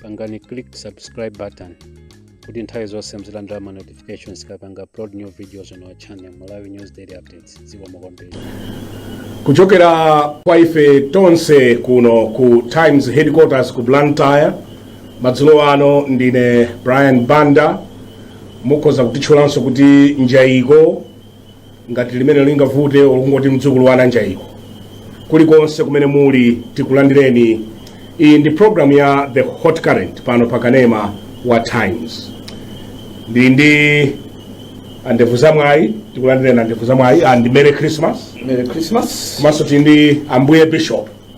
pangani click subscribe button kuti nthawi zonse muzilandira ma notifications tikapanga upload new videos on our channel malawi news daily updates zikomo kwambiri kuchokera kwa ife tonse kuno ku times headquarters ku blantyre madzulo ano ndine brian banda mukhoza kutitchulanso kuti njayiko ngati limene lingavute olungoti mdzukulu wa ananjaiko kulikonse kumene muli tikulandireni iyi ndi programu ya the hot current pano pa kanema wa times ndili ndi andevu zamwayi tikulandireni andevu zamwayi and merry christmas Merry Christmas. komanso tili ndi ambuye bishop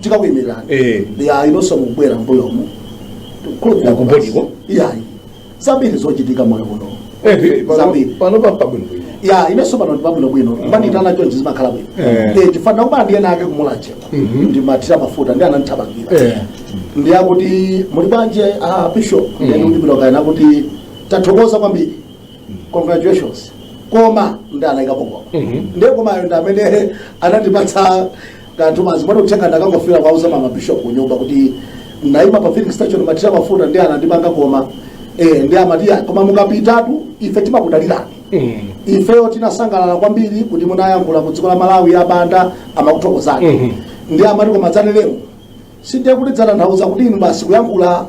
tikakuyimirani Eh. yayi nonse mukubwera mbuyomo Kukhulupirira Ku body ko? yayi zambiri zochitika moyo kuno Eh, pano- Zambiri. pano papabwino bwino ya inenso pano pabwino bwino kumandiitana chonchi zimakhala bwino Eh. Eh, chifukwa kubwera ndiyena ake kumulachewa Mhm. ndimathira mafuta ndi anandithamangira Eh. ndi akuti muli bwanji a bishop nde ndati bwino kenaka kuti tathokoza kwambiri congratulations koma ndi anaikapo koma Mhm. ndiye komayo ndi amene anandipatsa kanthu maganizo mwa uthenga ndangofika kuwauza mama bishop kunyumba kuti ndinaima pa filling station ndimathira mafuta ndi anandipanga koma eh ndi amati ya koma mukambetu ife timakudalirani ifeyo tinasangalala kwambiri kuti munayankhula ku dziko la malawi a banda amakuthokozani Mhm. ndi amati koma zanelemu sindiye kuti dzatanthauza kuti inu basi kuyankhula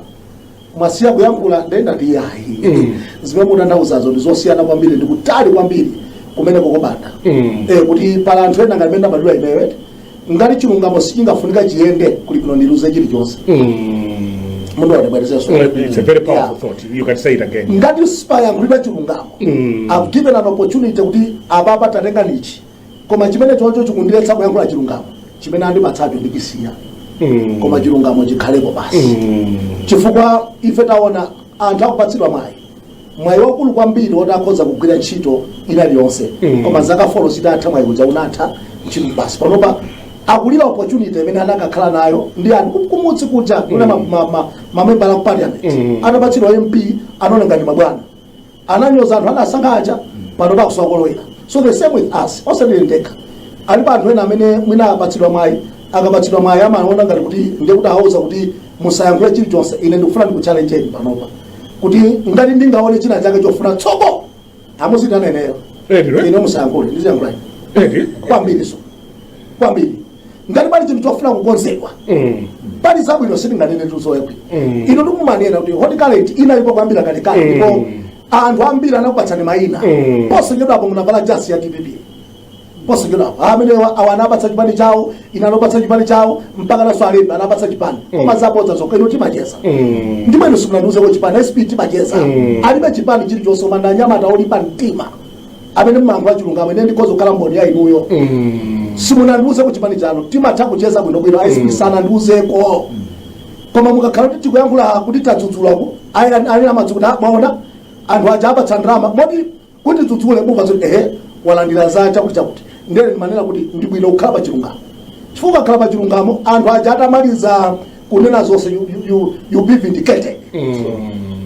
mwasiya kuyankhula nde ndati yayi Mm. zimene mutanthauzazo ndi zosiyana kwambiri ndi kutali kwambiri kumene kokobanda Mm. eh, kuti pali anthu ena ngati mene amadula iweyo eti ngati chilungamo sichingafunika chiyende kuli bwino ndiluze chilichonse Mm. munthu atibwerezenso It's a very powerful thought. You can say it again. ngati sipayankhulidwa chilungamo Mm. i've given an opportunity kuti apapa tatengani ichi koma chimenechocho chikundiletsa kuyankhula chilungamo chimene andipatsacho ndichisiya Mm. koma chilungamo chikhalepo basi Mm. chifukwa ife taona anthu akupatsidwa mwayi mwayi wakulu kwambiri woti akhoza kugwira ntchito ina iliyonse Mm. koma zaka folo zitatha mwayi uja unatha ntchito basi panopa akulira opportunity imene anakakhala nayo ndi anthu ku- kumudzi kuja kuna mamembala ku parliament Mm. atapatsidwa mp anaona ngati mabwana ananyoza anthu anasankha aja panopa akusowa kolowera so the same with us osati ndekha alipo anthu ena amene mwina apatsidwa mwayi akapatsidwa mwayi amaona ngati kuti ndiye kuti awauza kuti musayankhule chilichonse ine ndikufuna ndikuchallenjeni panopa kuti ngati ndingaone china chake chofuna tsogolo muziitana ineyo Eti, right? ine musayankhule ndiziyankhula Eti? kwambiri so kwambiri ngati pali chinthu chofuna kukonzedwa Mm. pali zabwino sitinganene tuzoyekwi Mm. inu tikumanena kuti hot current inalipo kuyambira kalekale Mm. ndipo anthu ambiri anakupatsani mayina Mm. posachedwapo munavala jasi ya dpp posachedwapo amenewa awa anawapatsa chipani chawo ena anawapatsa chipani chawo mpaka nawonso alembe anawapatsa chipani koma zabodza zokha inu timacheza Mm. ndiye simunandiuzeko chipani sp timacheza Mm. alibe chipani chilichonse koma ndi anyamata olimba mtima amene mmayankhula chilungamo ine ndikhoza kukhala mboni ya inuyo simunandiuzeko chipani chanu timatha kucheza bwinobwino a sp sanandiuzeko koma mukakhala kuti tikuyankhula kuti tadzudzulako ali amadzi kuti "Ah, mwaona anthu aja awapatsa ndalama moti kuti adzudzule buva zoti ehe walandira za chakuti chakuti ndiye ndimanena kuti ndi bwino kukhala pa chilungamo chifukwa kukhala pa chilungamo anthu aja atamaliza kunena zonse you, you, you, you be vindicated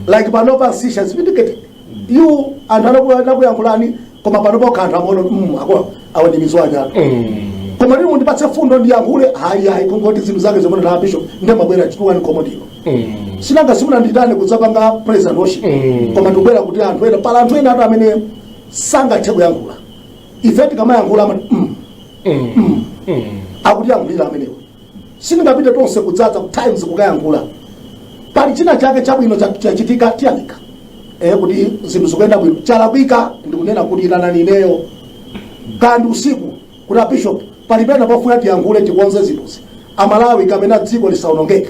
like panopa sisha is vindicated yu anthu anaku- anakuyankhulani koma pano pokha anthu amaona kuti mm, awa awa ndi mizwanyatu koma lero mundipatse mfundo ndiyankhule hayi hayi kungoti zinthu zake zomwe a bishop ndimabwera chituwani komodino sinanga simunanditane kudzapanga praise and worship koma ndikubwera kuti anthu ena pali anthu ena anthu amene sangathe kuyankhula ife tikamayankhula amati mm, mm, akutiyankhulira amenewo sitingapite tonse kudzadza ku times kukayankhula pali china chake chabwino cha- chachitika tiyamika eh kuti zinthu zikuyenda bwino chalakwika ndikunena kuti itanani ineyo kaya ndi usiku kuti a bishop pali pena pofuna tiyankhule tikonze zinthuzi amalawi kapena dziko lisaonongeke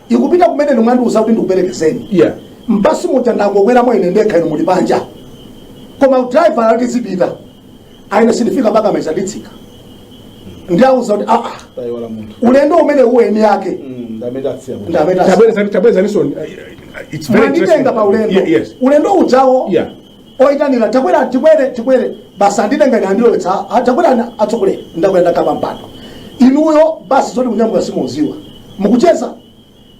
ikupita kumene inu mwandiuza kuti ndikuperekezeni Yeah. m'basi muja ndangokweramo ine ndekha inu muli panja koma driver ali tizipita ayi ine sindifika mpaka meza nditsika ndiauza kuti aa tayiwala munthu ulendo umene uweni yake ndi amene tasiya munthu ndameta Tabweza- tabweza niso, uh, it's very interesting. mwanditenga pa ulendo Yeah, yes. ulendo ujawo Yeah. oitanira takwera tikwere tikwere basi anditenga ine andilowetsa a- a- takwerani atsogoleri ndakwera ndakhala pampando inuyo basi zoti kunyamuka simudziwa mukucheza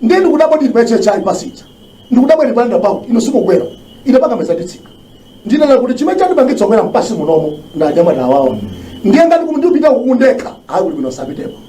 ndiye ndikudabwa ndili pa hhi pasija ndikudabwa ndili pa roundabout inu simukwera ine pakameza nditsika ndinena kuti chimene chandipangitsa kukwera m'basi munomo ndi anyamata awawa ndiye ngati kuli ndipita uko ndekha ayi kuti bwino sapitepo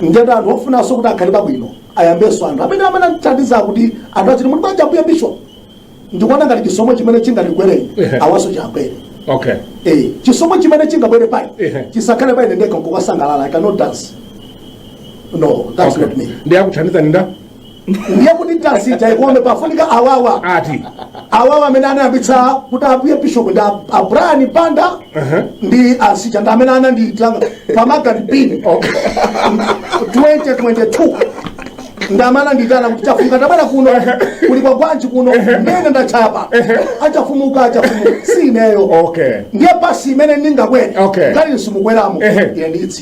ndiye ngati anthu ofunanso kuti akhale pabwino ayambe ndi anthu amene amene anathandiza kuti anthu adziwe kuti kuli ambuye bishop ndikuona ngati chisomo chimene chingatigwere Ehe. awanso chiwagwere okay Eh, chisomo chimene chingagwere pa ine Ehe. chisakhale pa ine ndekha nkukasangalala i cannot dance no that's Okay. not me ndi akuthandizani nda ndiye kuti dansi ikome pafunika awawa ati awawa amene anayambitsa kuti ambuye bishop ndi a- a brian banda ndi asija ndi amene anandiyitana pamagani pini 2022 ndi amene anandiyitana kuti chafuka tabwera kuno kuli kwa gwanji kuno ndiye ndachapa achafumuka achafumuka si ineyo okay ndiye basi imene ndingakwere Okay. ngati simukweramo Ehe. ine nditsi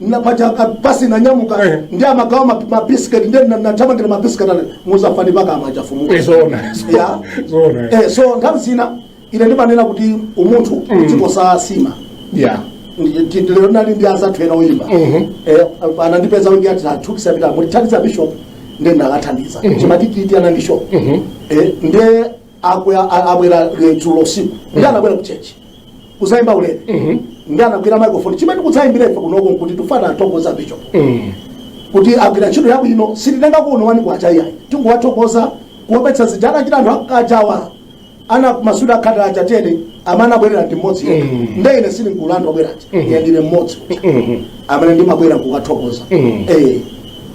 napaja basi nanyamuka Eh. nde amagawa ma- mabisiketi ndi na- ndinathamangira mabisiketi ale muzafani mpaka amacha fumuka Eh, zoona Ya. zoona eh. eh, so nthawi zina ine ndimanena kuti umunthu dziko sasima yeah lero ndinali ndi anzathu ena oyimba Mhm. Eh, anandipeza wingi ati atukitse pitani mukathandize bishop nde ndakathandiza chimatititi anandishopu nde Abwera a- abwera eh, dzulo usiku. Nde anabwera kuchechi. Kuzaimba ulere. Nde anagwira microphone. Chimene kudzaimbira ife kunoko nkuti tikufuna tithokoze bishop. kuti agwira ntchito yabwino sititenga kuno one kwacha iyayi tikungowathokoza kuopetsa zija anachita anthu akhatewa anamasulidwa akhate aja teni amene anabwerera ndi mmodzi yekha nde ine sindili m'gulu la osabwera aja ine ndine mmodzi amene ndimabwera kukathokoza Eh,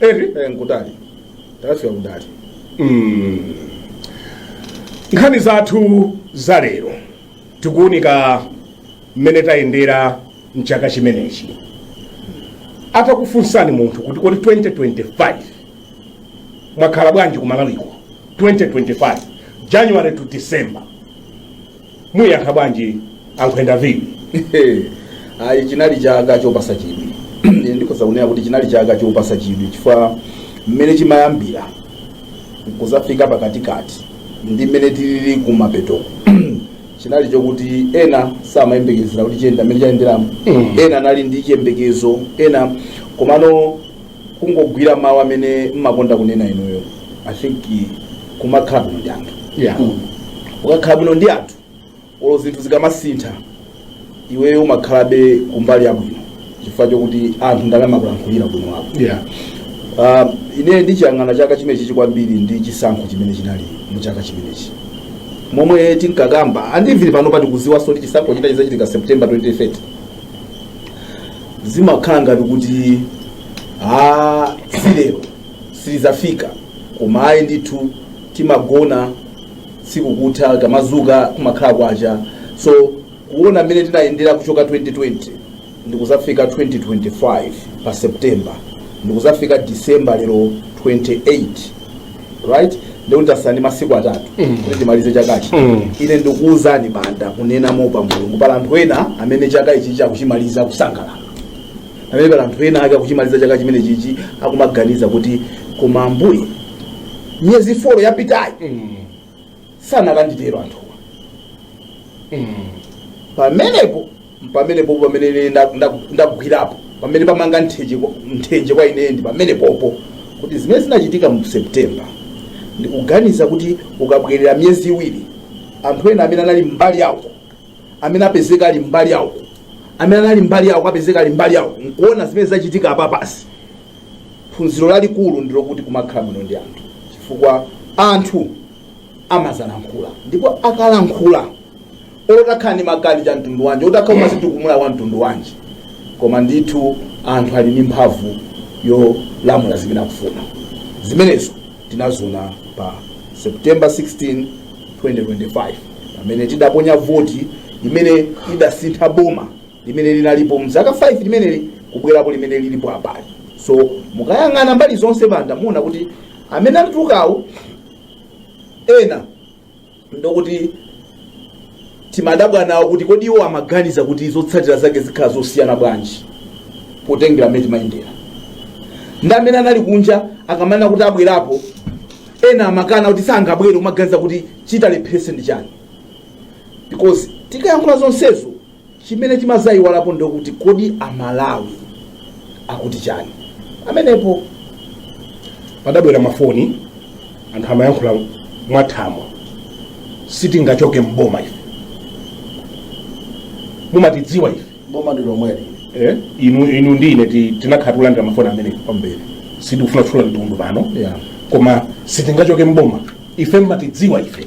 ehe Eh, ndi kutali takafika kutali Mm. nkhani zathu za lero tikuwunika mmene tayendera mchaka chimenechi atakufunsani munthu kuti kodi 2025 mwakhala bwanji ku malawiko 2025 january to december muyankha bwanji a Ndiviri ayi chinali chaka chopatsa chidwi Ine ndikhoza kunena kuti chinali chaka chopatsa chidwi chifukwa mmene chimayambira nkuzafika pakatikati ndi mmene tilili kumapeto chinali chokuti ena samayembekezera kuti chiyenda mmene chayenderamu ena anali ndi chiyembekezo ena komano kungogwira mawu amene mmakonda kunena inuyo i think kumakhala bwino ndi anthu Yeah. ukakhala bwino ndi anthu olo zinthu zikamasintha iweyo umakhalabe kumbali yabwino chifukwa chokuti anthu ndamene amakulankhulira ubwino wako Yeah. uh, ine ndikuchiyang'ana chaka chimenechi kwambiri ndi chisankho chimene chinali mu chaka chimenechi momwe tinkakamba a Ndiviri pano pamene tikuziwaso kuti chisankho china chizachitika september 2030 zimakhala ngati kuti a tsikulo silizafika koma ayi ndithu timagona tsiku kutha kumadzuka kumakhala kwacha so kuona mmene tinayendera kuchoka 2020 ndikuzafika 2025 pa september ndikuzafika december lero 28 right ndikuti tasala ndi masiku atatu kuti timalize chakachi ine ndikuwuzani a Banda kunena mopa mulungu pali anthu ena amene chaka ichichi akuchimaliza kusangalala pamene pali anthu ena ake akuchimaliza chaka chimene chichi akumaganiza kuti koma ambuye miyezi folo yapitayi asanakatitero anthuwa pamenepo pamenepopo pamene ine nda- nda- ndagwirapo pamene pamanga mthenje kwa- mthenje kwa ine ndi pamenepopo kuti zimene zinachitika mu september ndikuganiza kuti ukabwerera miyezi iwiri anthu ena amene anali mbali iyi amene apezeka ali mbali yako amene anali mbali yako apezeka ali mbali yawo nkuona zimene zachitika apa basi phunziro lalikulu ndilokuti kumakhala bwino ndi anthu chifukwa anthu amazalankhula ndipo akalankhula olo utakhala ndi makadicha mtundu wanji utakhala umazitukumula wa mtundu wanji koma ndithu anthu ali ndi mphamvu yolamula zimene akufuna zimenezo tinaziona pa september 16 2025 pamene tidaponya voti imene idasintha boma limene linalipo mzaka 5 limeneli kubwerapo limene lilipo apali so mukayang'ana mbali zonse Banda muona kuti amene atulukawo ena ndokuti timadabwa nawo kuti kodi iwo amaganiza kuti zotsatira zake zikhala zosiyana bwanji potengera mmene timayendera ndi amene anali kunja akamanena kuti abwerapo ena amakana kuti sangabwere umaganiza kuti chitalepheretse ndi chani because tikayankhula zonsezo chimene chimazaiwalapo ndokuti kodi amalawi akuti chani amenepo pakubwera mafoni anthu amayankhula mwathamo sitingachoke mboma ife mumatidziwa ife boma ndi lomweli eh? inu inu ndine ti- tinakhala tikulandira mafoni amene kwambiri sitikufuna kutchula mtundu pano Yeah. koma sitingachoke mboma ife mmatidziwa ife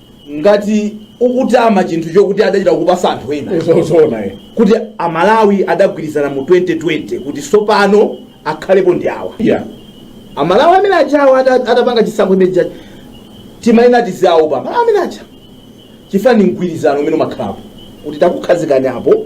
ngati ukutama chinthu chokuti adachita kukupatsa anthu ena Zozoona eh. kuti amalawi adagwirizana mu 2020 kuti sopano akhalepo ndi awa Yeah. amalawi amene ajawo ada- adapanga chisankho chimenechachi timayenera tiziwaopa amalawi amene aja chifukwa ndi mgwirizano umene umakhalapo kuti takukhazikani apo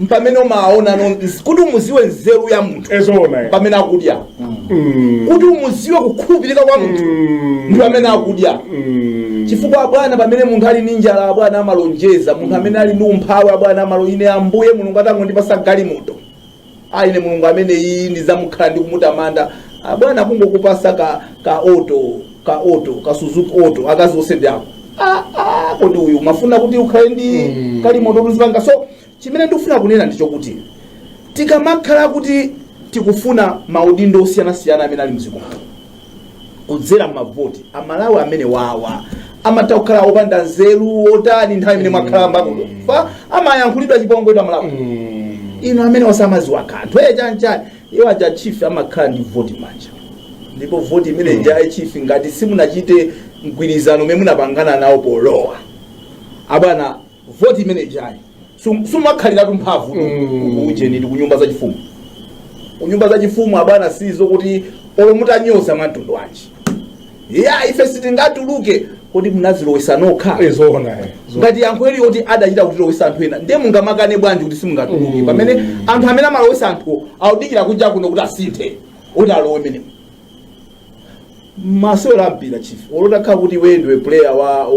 mpamene umaona no- nz- kuti umuziwe nzeru ya munthu zoona eh. pamene akudya Mm, kuti umuziwe kukhulupirika kwa munthu mm, ndi pamene akudya mm. chifukwa abwana pamene munthu ali ndi njala abwana amalonjeza munthu amene ali ndi umphawi abwana amalo- ine ambuye mulungu atangondipasa galimoto a ine mulungu ameneyu ndizamukhalira ndi kumutamanda Ah, bwana kungokupasa ka ka oto ka oto ka suzuki oto akazi onse ndi ako Ah, ah, kodi iwe umafuna kuti ukhale ndi Mm. galimoto uzipanga so chimene ndikufuna kunena ndi chokuti tikamakhala kuti tikufuna maudindo osiyanasiyana amene ali mdziko muno kudzera mmavoti amalawi amenewawa amatha kukhala opanda nzeru otani nthawi imene mwakhala mbakufa amayankhulidwa chipongwe kuti amalawi inu amene samaziwa kanthu eye chanchani iwo aja chief amakhala ndi voti mmanja ndipo voti imene ija ya chief ngati simunachite mgwirizano umene munapangana nawo polowa abwana vote imene ijayi sum- sumakhaliratu mphamvu ku ujeni kunyumba zachifumu kunyumba zachifumu abwana sizo kuti olo mutanyoza mwamtundu wanji ya ife sitingatuluke kodi munazilowesa nokha zoona eh. ngati yankho ili yoti adachita kutilowesa anthu ena ndiye mungamakane bwanji kuti simungatuluke pamene anthu amene amalowesa anthu akudikira kunja kuno kuti asinthe kuti alowe menemo masewera a mpira chief olo zitakhala kuti iwe ndiwe player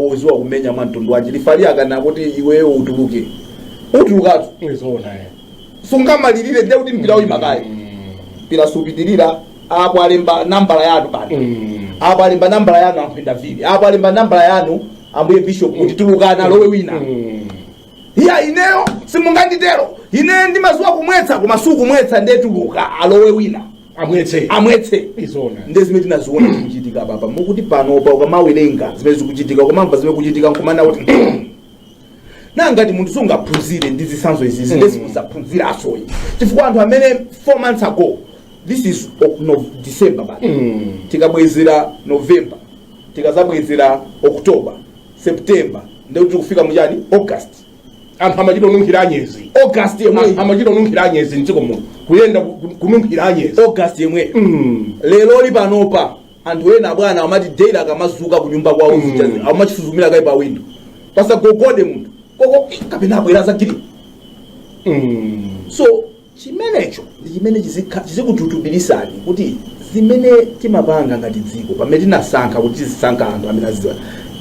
woziwa kumenya mwa mtundu wanji referee akanena kuti iweyo utuluke utulukatu Zoona eh. sungamalirire ndiye kuti mpira uyimakayo mpira supitirira apo alemba nambala yanu pano Mm. apo alemba nambala yanu amphenda vili apo alemba nambala yanu ambuye bishop kuti tulukani alowe wina Mm. iya ineyo simunganditero ine ndimaziwa kumwetsa koma sukumwetsa nde tuluka alowe wina amwetse amwetse zoona nde zimene tinaziona zikuchitika papa mokuti panopa ukamawerenga zimene zikuchitika ukamamva zimene zikuchitika nkumaona kuti na ngati munthu singaphunzire ndi zitsanzo izizi nde suzaphunziranso ayi chifukwa anthu amene 4 months ago this is o- no, december bwana tikabwezera november tikazabwezera october september nde tikufika mu chani august anthu amachita kununkhira anyezi august yemweyi A- amachita kununkhira anyezi mdziko muno kuyenda ku- ku- kununkhira anyezi august yemweyi Mm. leroli panopa anthu ena bwana amati daily akamazuka kunyumba kwawo Mm. amachita suzumira kaye pa window pasagogode munthu koko kapena abwera za green Mm. so Chimenecho ndi chimene chizikha, chizikututubilisani kuti zimene tinapanga ngati dziko pamene tinasankha kuti tizisankha anthu amene azidziwa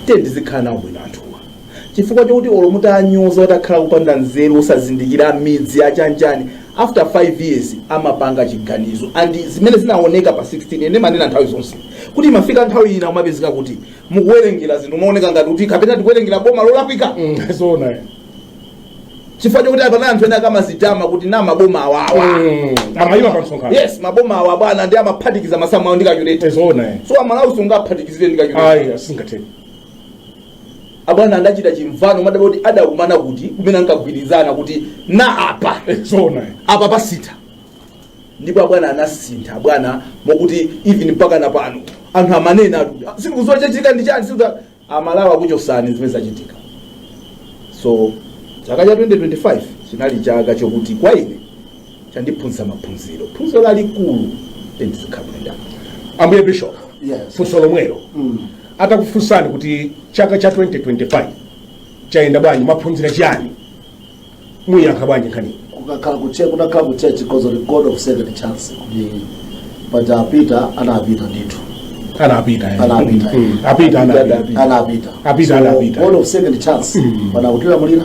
tiyeni tizikhala nawo bwino anthuwa chifukwa chokuti olo mutanyoza atakhala opanda nzeru osazindikira m'midzi yachanichani after 5 years amapanga chiganizo and zimene zinaoneka pa 16 ine ndimanena nthawi zonse kuti imafika nthawi ina umapezeka kuti mukuwerengera zinthu zimaoneka ngati kuti kapena tikuwerengera boma lolakwika zoona chifukwa chokuti apa anthu ena akamazitama kuti na maboma awawa amayima pa msonkhano yes maboma awa bwana ndi amaphatikiza masamu awo ndi calculator zoona eh. so amalawi sungaphatikizire ndi calculator ayi sizingatheke abwana anachita chimvano ndimadabwa kuti adakumana kuti kumene ankagwirizana kuti na apa zoona eh. apa tasintha ndipo abwana anasintha abwana mokuti even mpaka na pano anthu amanena ati, "Ah, sindikuziwa chachitika ndi chani sikuza amalawi akuchosani zimene zachitika so chaka cha 2025 chinali chaka chokuti kwa ine chandiphunzitsa maphunziro phunziro lalikulu ndizikabwera ambuye bishop Yes. funso lomwelo Mm. atakufunsani kuti chaka cha 2025 chayenda bwanji mwaphunzira chiyani muyankha bwanji nkhaniyi kukakhala kuche kunakhala ku church because of the god of second chance kuti paja apita anapita ndithu anapita eh. Anapita. Mm. apita anapita anapita Apita, So, anapita. god of second chance Mm. pana kutilamulira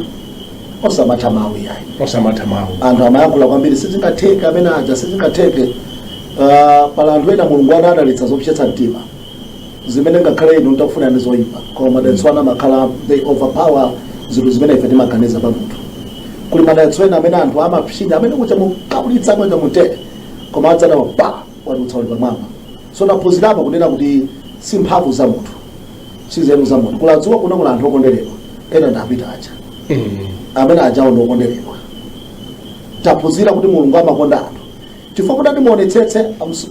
osamatha mawu yayi osamatha mawu anthu amayankhula kwambiri sizingatheke amene aja sizingatheke Ah, pali anthu ena mulungu anadalitsa zopsetsa mtima zimene ngakhale inu mtakufuna ndi zoyipa koma madalitso ena amakhala they overpower zinthu zimene ife timaganiza pa munthu kuli madalitso ena amene anthu amapsinja amene kucha mukabulitsa mweka mutere koma adzaona wadutsa uli pamwamba so taphunzirapo kunena kuti si mphamvu za munthu si nzeru za munthu kula dziko lino kuli anthu okonderedwa ena ndi a Peter aja amene ajawo ndi okonderedwa taphunzira kuti mulungu amakonda anthu chifukwa mutati muonetsetse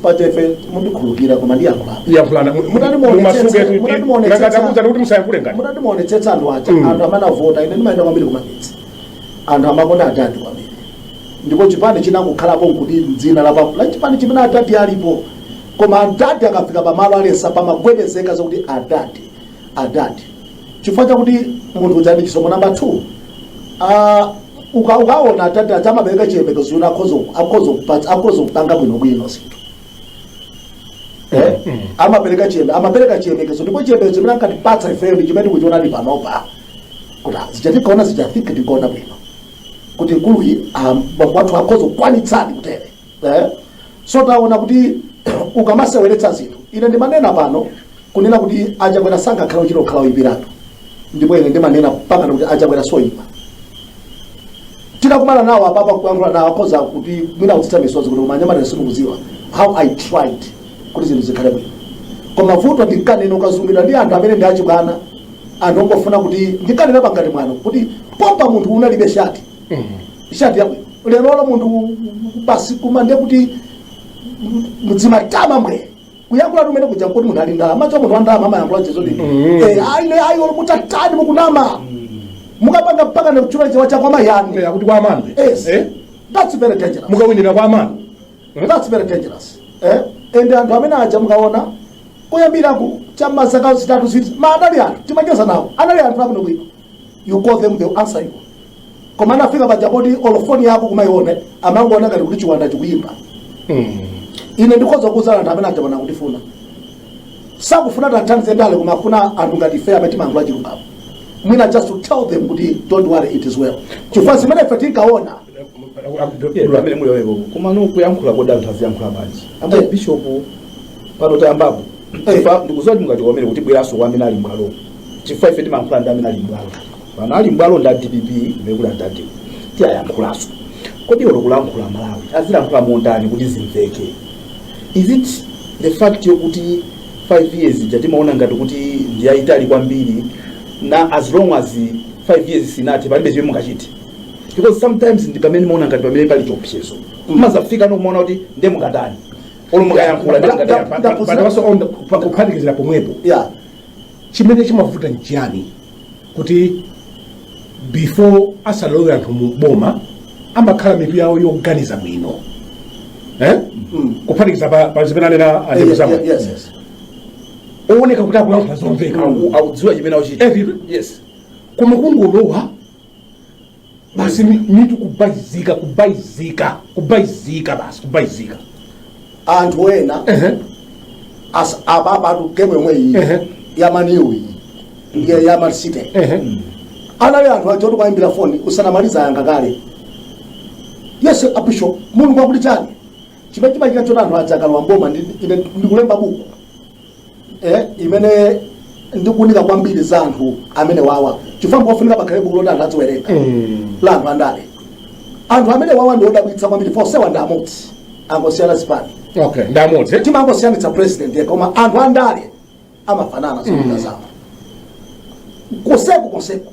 pathufe mundikhululukira koma ndiyankhula yankhulani Mutati muonetsetse- mutati muonetsetse- mumasuke angatakuuzani kuti musayankhule ngati mutati muonetsetse anthu aja Mm. anthu amene avota ine ndimayenda kwambiri kumagetsi anthu amakonda adadi kwambiri ndipo chipani chinangokhalapo nkuti ndi dzina la pa- la chipani chimene adadi alipo koma adadi akafika pamalo alesa pamagwedezeka zokuti adadi adadi chifukwa chakuti munthu uja ndi chisomo namba 2 ah, uka- ukaona adadi aja amapereka chiyembekezo uyuna akhoza kupanga bwinobwino zinthu Eh? amapereka chiyembe amapereka chiyembekezo ndipo chiyembekezo chimene ankatipatsa ifeyo ndi chimene tikuchiona ndi panopa kuti ah, zija tinkaona zija I think tinkaona bwino kuti mkuluyi ah, bambo wathu akhoza kukwanitsadi kutere eh? so taona kuti ukamaseweretsa zinthu ine ndimanena pano kunena kuti a Chakwera sangakhale kuchita kukhala oipiratu ndipo ine ndimanena pano kuti a Chakwera si oipa titakumana nawo apapa kuyankhula nawo akhoza kuti mwina kukhetsa misozi kuti koma anyamata simukudziwa how i tried kuti zinthu zikhale bwino koma vuto ndinkanena ukazunguliridwa ndi anthu amene ndi achibwana anthu ongofuna kuti ndinkanena pakati mwano kuti pompa munthu unalibe shati yabwino lerolo munthu basi kumati kuti muzimutama bwe kuyankhula kumene kuja kuti munthu ali ndalama nacho munthu wa ndalama amayankhula chezoti aine ayi olo mutatani mukunama mukapanga mpaka ne kuchula chiwa chakwa mayani Eh, akuti kwa amano yes Eh? that's very dangerous mukawinira kwa amano that's very dangerous eh and anthu amene aja mukaona kuyambira ku chamazaka zitatu izi tima anali anthu timacheza nawo anali anthu abwino bwino you call them they will answer you koma anafika paja poti olo foni yako kumaiona amangoona ngati kuti chiwanda chikuyimba ine ndikhoza kuuza anthu amene aja pano kutifuna sakufuna tiwathandize ndale koma akufuna anthu ngati ife amene timayankhula chilungamo mwina just to tell them kuti don't worry it is well chifukwa zimene ife tinkaona Dula amene muli wewe koma no kuyankhula kodi anthu aziyankhula bwanji amene Eh. bishop pano tayambapo Eh. Chifukwa ndikudziwa kuti mungatikomere kuti bweranso kwa amene ali mbwalo chifukwa ife timayankhula ndi amene ali mbwalo pano ali mbwalo ndi a dpp ndikula ndadi tiwayankhulanso kodi olo kulankhula malawi azilankhula motani kuti zimveke is it the fact yokuti 5 years ija timaona ngati kuti ndiyayitali kwambiri na as long as 5 years sinathe palibe chimene mungachite because sometimes ndi pamene mumaona ngati pamene pali chiopsezo mumazafika nkumaona kuti ndiye mungatani olo mukayankhula ndiye mungatani. But also on the- pa- kuphatikizira pomwepo yeah chimene chimavuta nchiyani kuti before asalowe anthu mu boma amakhala mitu yawo yoganiza bwino eh? kuphatikiza pa, pa zimene anena anena zomwe yes yes owoneka kuti akulankhula zomveka Aku- akudziwa chimene akuchita Every- yes koma kungolowa basi mi- mitu kubaizika kubaizika kubaizika basi kubaizika anthu ena Ehe. as- ababa atu game yomwe iyi Ehe. ya man u iyi ndiye ya man city Ehe. anali anthu oti ukawaimbira foni usanamaliza ayankha kale yes abishop mulungu akuti chani chimene chimachitika choti anthu aja akalowa mboma ndi- ine ndikulemba buku eh, imene ndikuunika kwambiri za anthu amene awawa chifukwa mpofunika pakhale buku loti anthu adziwerenga la anthu andale anthu amene awawa ndi odabwitsa kwambiri onsewa ndi amodzi amangosiyana zipani okay ndamodzi timangosiyanitsa president yekha koma anthu andale amafanana zochita zawo kuseku kuseku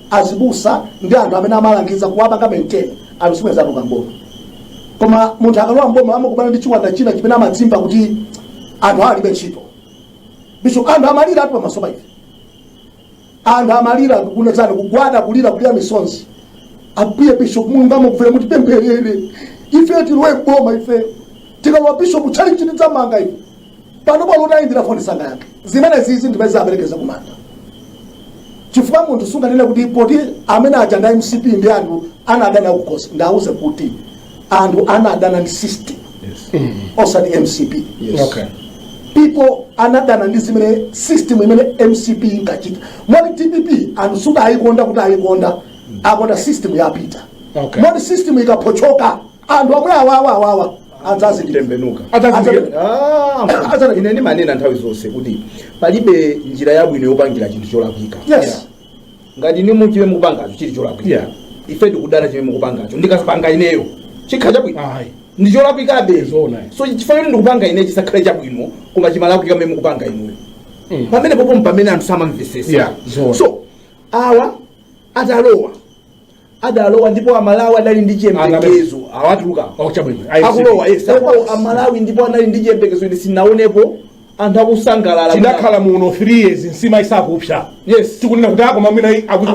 azibusa ndi anthu amene amalangiza kuwapanga maintain anthu asanalowe mboma koma munthu akalowa mboma amakumana ndi chiwanda china chimene amadziwa kuti anthu awa alibe ntchito bishop anthu amalira atu pamaso pa ife anthu amalira kunena zoona kugwada kulira kulira misozi abusa bishop mulungu akufuna kuti mutipempherere ife tilowe boma ife tikalowa bishop tchalitchi tidzamanga ife pano pano utayimbira foni sangayankhe zimenezizi ndimene zawaperekeza kumanda chifukwa munthu sunganene kuti poti amene aja ndi mcp ndi anthu anadana nawo kukhosi ndawuze kuti anthu anadana ndi system osati mcp Okay. people anadana ndi zimene system imene mcp inkachita moti dpp anthu sikuti ayikonda kuti ayikonda akonda system yapita Okay. moti system ikaphochoka anthu omwe awawa awawa adzayitembenukira Adzayi- Ah, Azana, ine ndimanena nthawi zonse kuti palibe njira yabwino yopangira chinthu cholakwika yes ngati inu chimene mukupangacho chili cholakwika Yeah. ife tikudana chimene mukupangacho ndikapanga ineyo chikhala chabwino ayi ndi cholakwikabe Zoona. so chifukwa choti ndikupanga ine chisakhale chabwino koma chimalakwika mmene mukupanga inuyo Mm. pamenepopo mpamene anthu samamvetsetsa Yeah, zoona. so awa atalowa adalowa ndipo amalawi adali ndi chiyembekezo awatuluka Oh, chabwino. I see. akulowa yes akulowa amalawi ndipo anali ndi chiyembekezo ine sinaonepo anthu akusangalala tidakhala muno 3 years nsima isakupsa yes tikunena kuti akoma mwina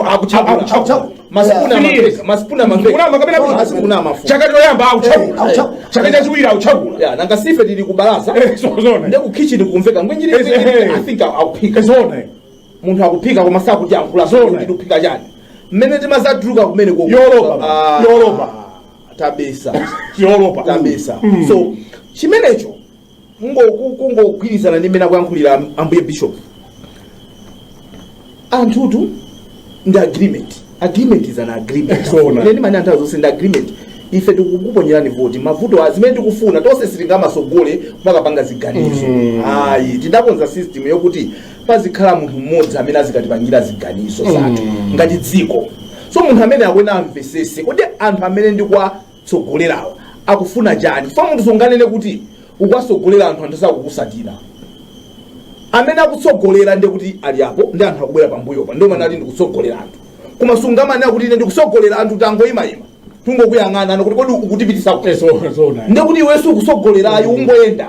akuchakula masipuna amafeka masipuna amafeka masipuna amafuna chaka choyamba Eh, akuchakula akuchakula. chaka chachiwiri akuchakula ya nanga sife tili kubalaza Eh, so- zona. nde ku kitchen kumveka ngwinjiri Eh, eh. i think akuphika zoona munthu akuphika koma sakutiyankhula Zoona. kuti tikuphika chani mmene timazatuluka kumene ku Europa, Ah, Europa. tabisa Europa. tabisa Mm. so chimenecho kungo- ku- kungogwirizana ndi mmene akuyankhulira ambuye bishop anthutu ndi agreement agreement is an agreement Zoona. ine ndimanena nthawi zonse ndi agreement ife tikukuponyerani voti mavutowa zimene tikufuna tonse sitingamasogole kumakapanga ziganizo ayi tidakonza system yokuti pazikhala munthu mmodzi amene azikatipangira ziganizo zathu ngati dziko so munthu amene akuena amvesese kuti anthu amene ndikwa akuwatsogolerawa akufuna chani chifukwa munthu sunganene kuti ukuwatsogolera anthu anthu sakukusatira amene akutsogolera nde kuti ali apo ndi anthu akubwera pambuyopa ndiye umanati ndikutsogolera anthu koma sungamanene kuti ine ndikutsogolera anthu tangoyimayima tungokuyang'anano kuti kodi ukutipitisa kuti so so na nde kuti iwe sukutsogolera ayi ungoyenda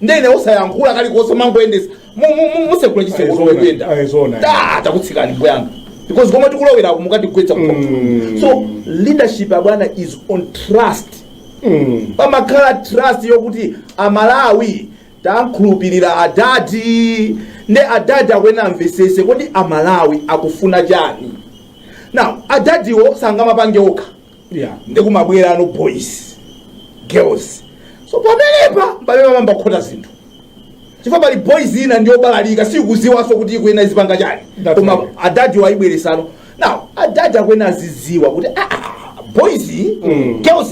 ndiye osayankhula kalikonse mangoyendesa musekula chisere zomwe kuyenda Ayi, zoona. Da, takutsikani mbuyanga because komwe tikulowerako mukatigwetsa Mm. so leadership abwana is on trust Mm. pamakhala trust yokuti amalawi tankhulupirira adadi nde adadi akuyenera amvesese kodi amalawi akufuna chani now adadiwo sangamapange okha yeah. nde kumabwerano boys girls so pamenepa pamene pamayamba kukhota zinthu chifukwa pali boys ina ndiyobalalika sikuziwanso kuti ikuena izipanga chani That's koma right. adadi ayibweresano now adadi akuena aziziwa kuti ah, ah, boys girls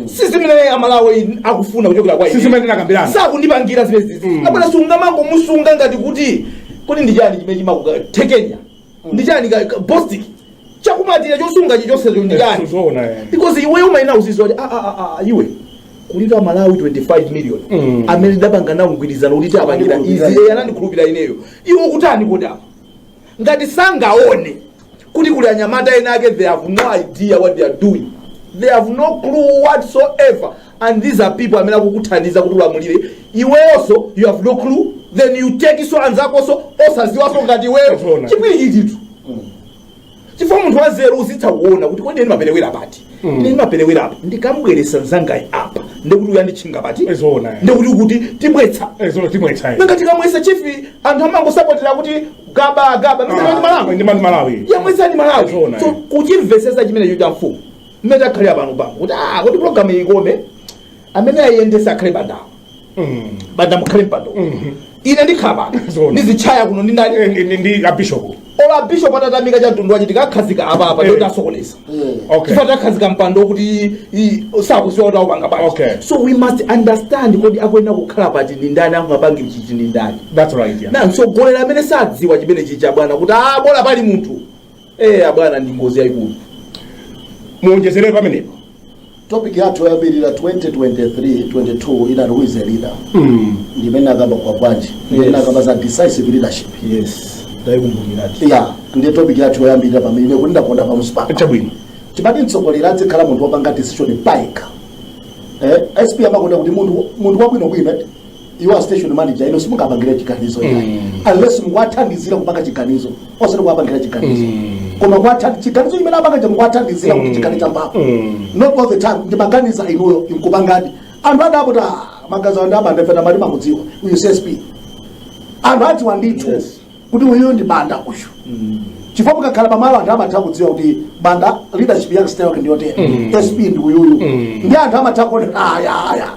sizimene amalawi akufuna kuchokera kwa ine. Sizimene tinakambirana. sakundipangira zimene zizi abwana sungamangomusunga ngati kuti kodi ndi chani chimene chimakuthekenya ndi chani ka- ka- bostik chakumatira chosunga chichonsecho ndi chani Zoona yani. because iwe umayena uziziwa kuti ah, ah, ah, ah, iwe kuli amalawi 25 million Mm. amene ndapanga nawo mgwirizano kuti ndapangira izi Andikhulupirira. iye anandikhulupira ineyo iwe ukutani kodi apa ngati sangaone kuti kuli anyamata ena ake they have no idea what they are doing they have no clue whatsoever and these are people amene akukuthandiza kuti ulamulire iweyoso you have no clue then you take so anzakoso osaziwaso ngati iweyo Zoona. chipwirikiti ndithu chifukwa munthu wanzeru uzitha kuona kuti kodi ine ndimaperewera pati ine ndimaperewera apa ndikamubweresa nzangayi apa ndikuti uyu anditchinga pati Zoona. ndikuti kuti tibwetsa ezono timwetsayi nanga tikamwesa chifi anthu amangosapotera kuti gaba gaba misana ndi malawi ndi mani malawi yamwesani malawi Zoona, so eh. kuchimvesesa chimenecho cha mfumu mmene takhalira pano bambo kuti ah kuti program iyi ikome amene ayiyendesa akhale bandawo banda mukhale mpando ine ndikhala pano Zona. ndizichaya kuno ndindani Eh, ndi- ndi abishopu ola bishop atatamika cha mtundu wache tikakhazika apa apa Eh. ndiye tasokoneza okay chifukwa takhazika mpando kuti i- sakudziwa kuti akupanga bwanji Okay. so we must understand kodi akuyenera kukhala pati ndi ndani angapange chiyani ndi ndani that's right yeah. na mtsogoleri amene sadziwa chimenechi abwana kuti ah bola pali munthu Eh, abwana ndi ngozi yayikulu. Muonjezere pamenepo. topic yathu yoyambirira 2023 22 ina who is a leader Mm. ndimene akamba kwa bwanji ndimene Yes. akamba za decisive leadership Yes. Ndayikumbukiratu. yeah ndiye topic yathu yoyambirira pamene ine kuti ndakonda pamusi pano Chabwino. timati mtsogoleri adzikhala munthu wopanga decision paika eh, sp amakonda kuti munthu munthu wabwinobwino you are station manager ino simungapangira chiganizo ina unless mukuwathandizira kupanga chiganizo osati kuwapangira chiganizo koma kuwatha- chiganizo chimene apanga cha mukuwathandizira kuti chikhale cha mphamvu not all the time ndimaganiza inuyo inkupangadi anthu adakuti magazi andi amandefeta mali mamudziwa uyu csp anthu adziwa ndithu Yes. kuti uyu ndi banda uyu chifukwa mukakhala pamalo anthu amatha kudziwa kuti banda leadership yake style yake ndiyotere sp ndi uyuyu ndi anthu amatha kuona ayaya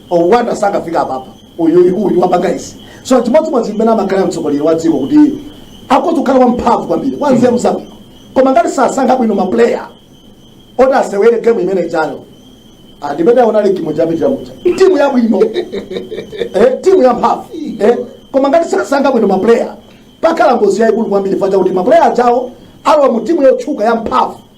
owanda sakafika apapa uyuyu uyu wapanga izi so chimodzimodzi mmene amakhala mtsogoleri wa dziko kuti akhoza kukhala wamphamvu kwambiri wanzeru zabwino koma ngati sasankha bwino maplayer oti asewere gemu imene ijayo Ah, ndimene aona ligi moja yapi chamuja timu yabwino eh, timu yamphamvu eh, koma ngati sasankha bwino maplayer pakhala ngozi yayikulu kwambiri fact ya kuti maplayer ajawo alowa mu timu yotchuka yamphamvu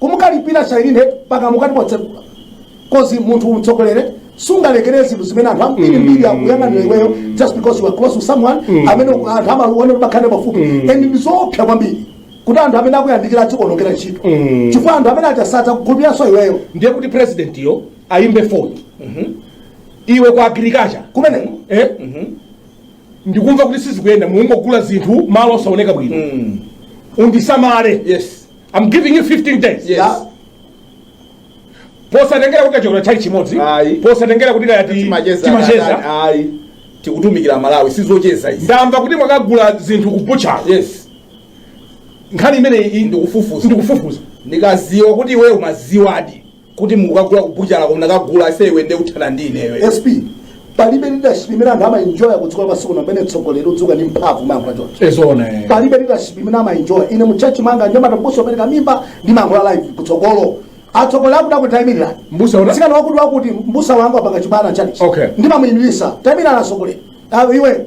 Kumukalipira chailene mpaka mukati motseguka cause munthu mtsogoleri sungalekere zinthu zimene anthu ambiri mbiri akuyang'anira iweyo just because you are close to someone amene uku- anthu amaona mumakhala pafupi and ndi zoopsa kwambiri kuti anthu amene akuyandikira azikuonongera ntchito chifukwa anthu ameneaja asiya kukhulupiranso iweyo ndiye kuti president yo ayimbe foni iwe ku agriculture kumeneko eh? ndikumva kuti sizikuyenda mungogula zinthu malo osaoneka bwino undisamale yes I'm giving you 15 days Yes. Yeah. posatengera kuti tachokera chani chimodzi Ayi. posatengera kuti kaya ti- timacheza timacheza ayi tikutumikira malawi sizocheza izi ndamva kuti mwakagula zinthu kubuchalo yes nkhani imeneyi ndikufufuza ndikufufuza ndikaziwa kuti iweyo umaziwadi kuti mukukagula ku buchala koma mnakagula ase iwe nde uthana ndi ineyo sp palibe leadership imene anthu amaenjoya kudziko lapansi kuno pamene mtsogoleri udzuka ndi mphamvu mayankhula choncho ezona palibe leadership imene amaenjoya ine mutchalitchi mwanga nyamata mbusa wopereka mimba ndi mayankhula live kutsogolo atsogoleri akuda kuti taimirira Mbusa una- sikana wakuti wakuti mbusa wangu apanga chibwana tchalitchi Okay. ndimamuimiritsa taimirira atsogoleri awe iwe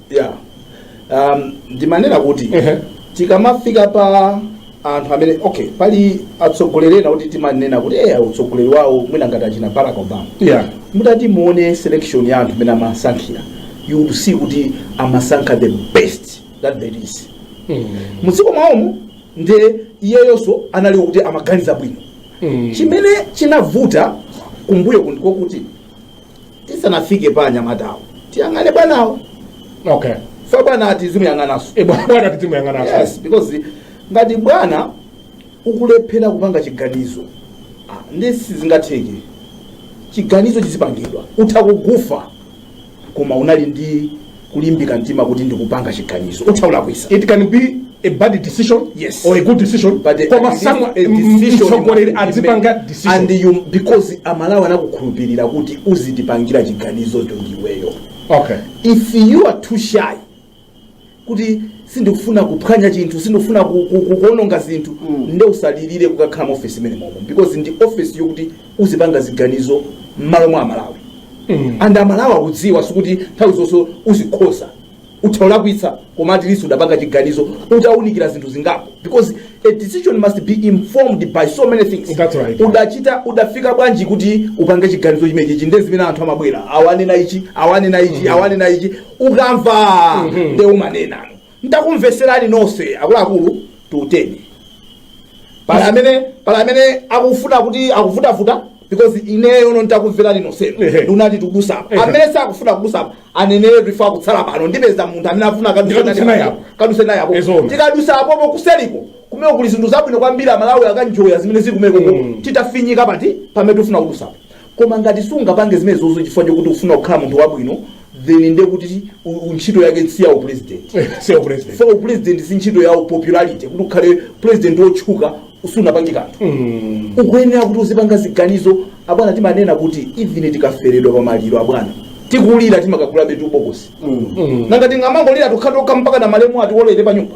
yeah. um, ndimanena kuti Ehe. tikamafika pa anthu amene okay pali atsogoleri ena kuti timanena kuti eya utsogoleri wawo mwina ngati achina barack obama Yeah. mutati muone selection ya anthu mmene amasankhira you will see kuti amasankha the best that there is Mm. mudziko mwawomo nde iyeyonso anali kuti amaganiza bwino Mm. chimene chinavuta kumbuyo kunoku ndi kokuti tisanafike pa anyamatawo tiyang'ane bwanawo okay chifukwa bwana tizimuyang'ananso e bwana bwana tizimuyang'ananso yes because ngati bwana ukulephera kupanga chiganizo ah, nde sizingatheke chiganizo chizipangidwa utha kugoofa koma ukhale ndi kulimbika mtima kuti ndikupanga chiganizo utha kulakwitsa it can be a bad decision yes. or a good decision but koma mtsogoleri adzipanga decision and you because amalawi anakukhulupirira kuti uzitipangira chiganizo cho ndiweyo okay if you are too shy kuti sindikufuna kuphwanya chinthu sindikufuna kuononga zinthu mm. nde usalilire kukakhala mu office imeneyo momo because ndi office yokuti uzipanga ziganizo mmalo mwa amalawi and amalawi akudziwa sikuti nthawi zonse uzikhoza utha kulakwitsa koma at least udapanga chiganizo utaunikira zinthu zingapo because a decision must be informed by so many things That's right. udachita udafika bwanji kuti upange chiganizo chimenechi ichi nde zimene anthu amabwera awa anena ichi awa anena ichi awa anena ichi ukamva nde umanena Ndakumvetserani nonse akuluakulu titere pali amene pali amene akufuna kuti akuvutavuta because ineyo no ndakumverani nonsenu Ehe. nde ndati tikudutsa apa Ehe. amene sakufuna kudutsapo aneneretu chifukwa akutsala pano ndipeza munthu amene afuna Ndikadutse naye apo. kadutse naye apo Ezoona. tikadutsa apopo kuseliko kumeneko kuli zinthu zabwino kwambiri amalawi akaenjoya zimene zili kumeneko Mm. titafinyika pati pamene tifuna kudutsapo koma ngati sungapange zimenezozo chifukwa chokuti ufuna kukhala munthu wabwino then nde kuti u- u- ntchito yake si ya upresident si upresident chifukwa upresident si ntchito ya popularity kuti ukhale president wotchuka usanapange kanthu ukuyenera kuti uzipanga ziganizo abwana timanena kuti even tikaferedwa pa maliro abwana tikulira timakagulabetu bokosi nanga tingamangolira tokhatokha mpakana malemu atiwolere pa nyumba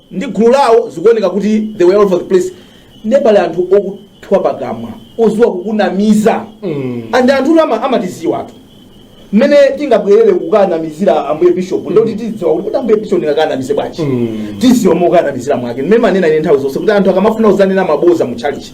ndi gulu lawo zikuoneka kuti they were all over the place nde pali anthu okuthwa pakamwa odziwa kukunamiza and anthutu ama- amatidziwatu mmene tingabwerere kukanamizira ambuye bishop ndoti tidziwe kuti kuti ambuye bishop tingakanamize bwanji tidziwa mokanamizira mwake mmene ndimanena ine nthawi zonse kuti anthu akamafuna kudzanena maboza mu tchalitchi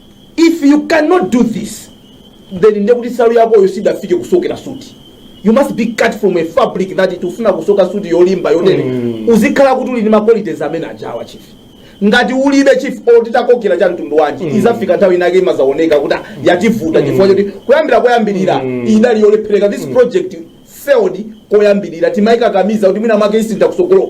If you cannot do this then ndekuti salu yakoyo siyidafike kusokera suit you must be cut from a fabric that iti ufuna kusoka suit yolimba yotere mm. uzikhala kuti uli ndi maqualities amene aja a chief ngati ulibe chief or titakusokera cha mtundu wanji mm. izafika nthawi inake imazaoneka kuti ah, yativuta mm. chifukwa choti kuyambira koyambirira mm. idali yolephereka this mm. project failed koyambirira timaikakamiza kuti mwina mwake isintha kusogolo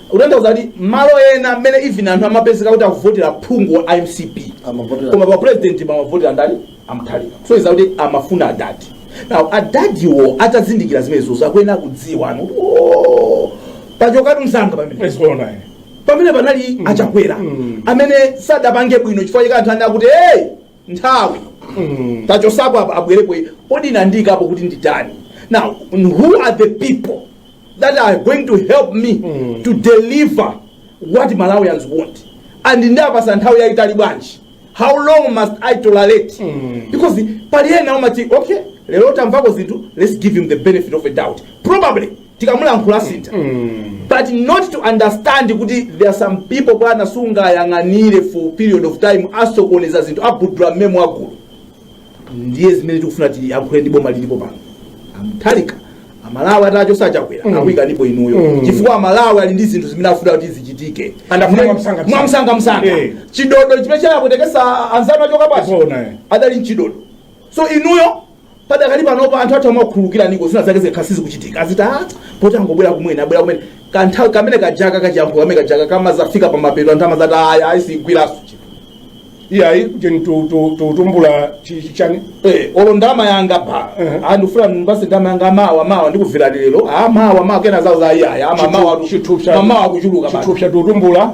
kutanthauza kuti malo ena mmene even anthu amapezeka kuti akuvotera phungu wa mcp Amavotera. koma pa president pamavotera ndani a Mutharika kusonyeza kuti amafuna adadi now adadiwo atazindikira zimenezo akuyenera kudziwa pano kuti oh pachokatu msanga pamene pamene panali a Chakwera amene sadapange bwino chifukwa chake anthu ana kuti hey nthawi tachotsapo apa abwerepo iye. kodi andiyikapo kuti nditani now who are the people that are going to help me to deliver what malawians want and ndapatsa nthawi yayitali bwanji how long must i tolerate because pali ena amati okay lero tamvako zinthu let's give him the benefit of a doubt probably tikamulankhula asintha but not to understand kuti there are some people bwana sungayang'anire for period of time asokoneza zinthu abudula mmenemo magulu ndiye zimene tikufuna tiyankhule ndi boma lilipo pano a Mutharika amalawi atachotsa a Chakwera mm. akuyikanipo inuyo mm. chifukwa amalawi ali ndi zinthu zimene afuna kuti zichitike And afuna mwamsanga- mwamsangamsanga Eh. chidodo chimene chawapwetekesa anzanu achoka basi Tipoona, eh. adali mchidodo so inuyo Padakali panopa anthu athu amakukhululukiraniko zina zake zikakhala sizikuchitika aziti a poti angobwera kumene abwera kumene kanthawi kamene kajaka kachiyankhulo kamene kajaka kamazafika pamapeto anthu amazati aya ayi sigwiranso chinthu iyayi jeni tu- tu- tu- tumbula chi- chi- chani Eh, olo ndama yanga pa Mhm. ndifuna basi ndama yanga mawa mawa ndikuvira lero a mawa mawa kena amazati iyayi amawa mawa Chithu- chithupsa mamawa achuluka basi. chithupsa tutumbula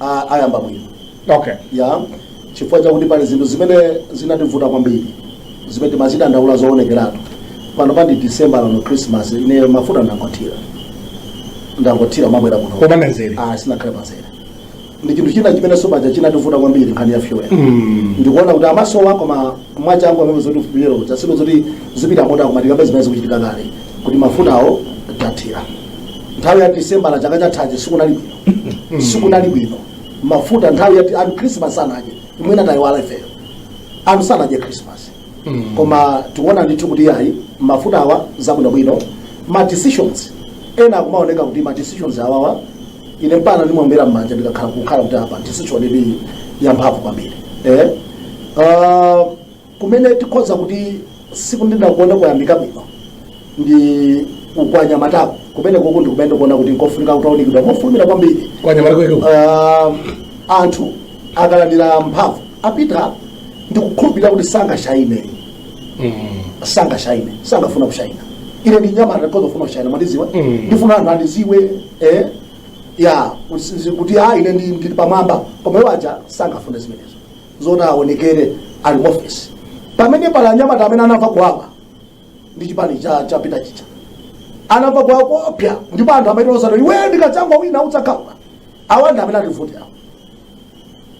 a- ayamba bwino okay ya chifukwa chakuti pali zinthu zimene zinativuta kwambiri zimene timazidandaula zoonekeratu pano mwa ndi december lino christmas ine mafuta ndangothira ndangothira pobwera kuno Koma pamzere. Ah, sinakhale pamzere ndi chinthu china chimene tsopano chinativuta kwambiri nkhani ya fuel ndikuona kuti amasowa koma mwachangu amene zoti fuel yo chasino zoti zipita moto akumazikamba zimene zikuchitika kale kuti mafutawo tathira nthawi ya december ya chaka chathachi sikunali bwino sikunali bwino mafuta nthawi yati anthu christmas sanadye inu mwina tayiwala ifeyo anthu sanadye christmas koma tikuona ndithu kuti ayi mafuta awa zabwinobwino ma decisions ena akumaoneka kuti ma decisions awawa ine mpaka ndimaombera mmanja ndikakhala kukhala kuti apa decision ili yamphamvu kwambiri eh? uh, Kumene tikhoza kuti sikuti nakonso kwayambika bwino ndi uku kwa anyamataku kumenekoko ndi kumene ndikuona kuti nkofunika kutaunikidwa mofulumira kwambiri Kwa anyamata kwake uku. Ah, anthu akalandira mphamvu apita ndikukhulupirira kuti sangashayine sangashayine sangafuna kushayina ine ndi nyamata ndikhoza kufuna kushayina mwandiziwa Mm. ndifuna anthu andiziwe eh, ya kuti- kuti a ine ndi- ndili pamwamba koma iwo aja sangafune zimenezo zoti aonekere ali mu ofesi pamene pali anyamata amene anamva kuwawa ndi chipani cha chapita chija anamva kuwawa koopsa ndipo anthu amene akuti iwe ndikadzangowina udzakhaula awa ndi amene ativute awa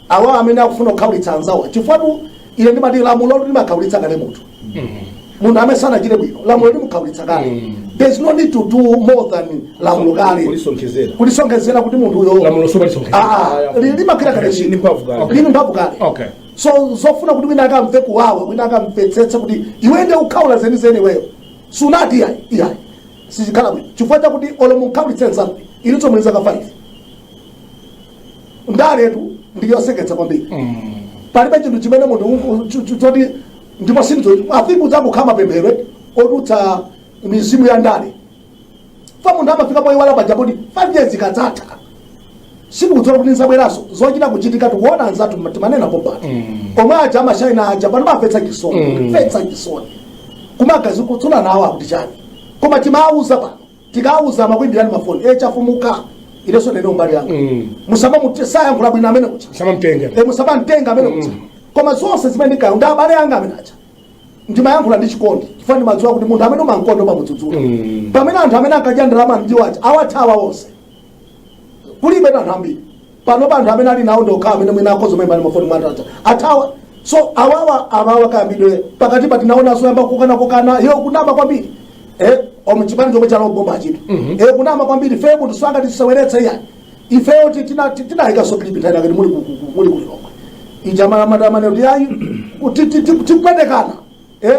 awa amene akufuna kukhaulitsa anzawo chifukwatu ine ndimati lamulo limakhaulitsa kale munthu munthu amene sanachite bwino lamulo limukhaulitsa kale Mm. there's no need to do more than lamulo kale kulisonkhezera kulisonkhezera kuti munthu uyo lamulo sumalisonkhezera Ah, li- limakhala kale Ndi mphamvu kale. Okay. lili mphamvu kale okay so zofuna kuti wina akamve kuwawa wina akamvetsetse kuti iwe ndiye ukhaula zenizeni iweyo sunati iyayi iyayi sizikhala bwino chifukwa chakuti olo munkhaulitse nzanu inunso muli zaka 5 ndaletu ndi yoseketsa kwambiri palibe chinthu chimene munthu ungu- chu- chu- choti ndipo sindidziwa i think kudzangokhala mapemphero eti, ochotsa mizimu ya ndale fa munthu amafika poyiwala poti kuti 5 years ikadzatha sikukudziwa kuti udzabweranso zochita kuchitika tikuona anzathu ma- timanena pompano omwe aja amashayina aja pano akumvetsa chisoni Mm. kumvetsa chisoni kumagazi kutsula nawo akuti chani koma timawuza pano tikawauza amakuimbirani mafoni e Chafumuka inenso ndine umbali yanga Mm. musamamute sayankhula bwino ameneyuja musamamtenga e musamamtenga ameneyuja koma zonse zimene ndinkayo ndi abale anga amene aja ndimayankhula ndi chikondi chifukwa ndimadziwa kuti munthu amene umankonda umamudzudzula Mm. pamene anthu amene ankadya ndalama ndi iwo aja awathawa onse kulibe anthu ambiri pano pa anthu amene ali nawo ndi okhawo amene mwina akhoza kumayimbana mafoni anthu aja athawa so awawa awawa kayambidwe pakati pa tinaonanso yamba kukana kukana yo kunama kwambiri eh omu chipani chomwe chalowa mbomachitu eh kunama kwambiri fe munthu sangatiseweretse iya ifeyo ti- tina ti- tinayikanso clip nthawi ina yake muli ku- ku- ku- muli ku Lilongwe ija amadanena kuti ti- ti- ti- tipwetekana eh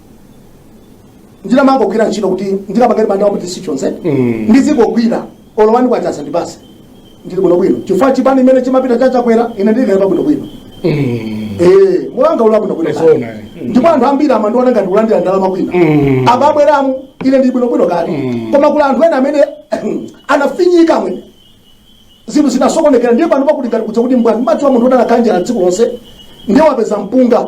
ndinamangogwira ntchito kuti ndikapakati panda ma decisions Mm. ndizingogwira olo one kwacha sandipatse ndili bwino bwino chifukwa chipani chimene chinapita chija chakwera ine ndili kale pa bwino bwino Mm. eh mulanga ula bwino bwino Zona, kale. eh. ndipo anthu ambiri amandiona ngati ndikulandira ndalama kwina Mm. apa abweramu ine ndili bwino bwino kale Mm. koma kuli anthu ena amene anafinyika mwina zinthu zinasokonekera ndiye pano pakuti ngati kudya kwa chimbwani mudziwa munthu udakhala ndi njala tsiku lonse ndiye wapeza mpunga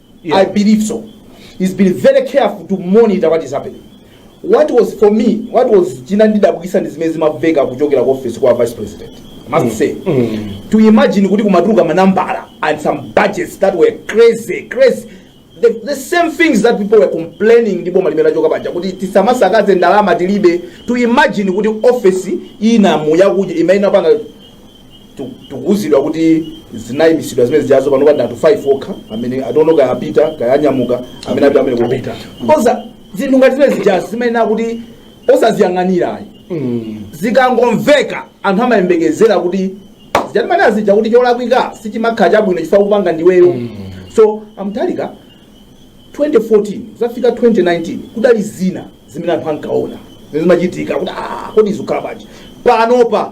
Yeah. I believe so. He's been very careful to monitor what is happening. What was for me, what was chinandidabwisa ndi zimene zimaveka kuchokera ku office kwa vice president. I must mm. say. Mm. To imagine kuti kumatuluka manambala and some budgets that were crazy, crazy. The, the same things that people were complaining ndi boma limene lachoka paja kuti tisamasakaze ndalama tilibe to imagine kuti office ina mwa iyo imene inapanga tikuuzidwa kuti zinayimitsidwa zimene zijazo panopa ndi anthu 5 okha amene atero kaya apita kaya anyamuka amene apita amene Apita. so zinthu ngati zimene zijazo zimayenera kuti osaziyang'anira ayi zikangomveka anthu amayembekezera kuti zija timanena zija kuti cholakwika sichimakhala chabwino chifukwa kupanga ndiweyo so a Mutharika 2014 kuzafika 2019 kudali zina zimene anthu ankaona zimene zimachitika kuti "Ah, kodi izikhala bwanji panopa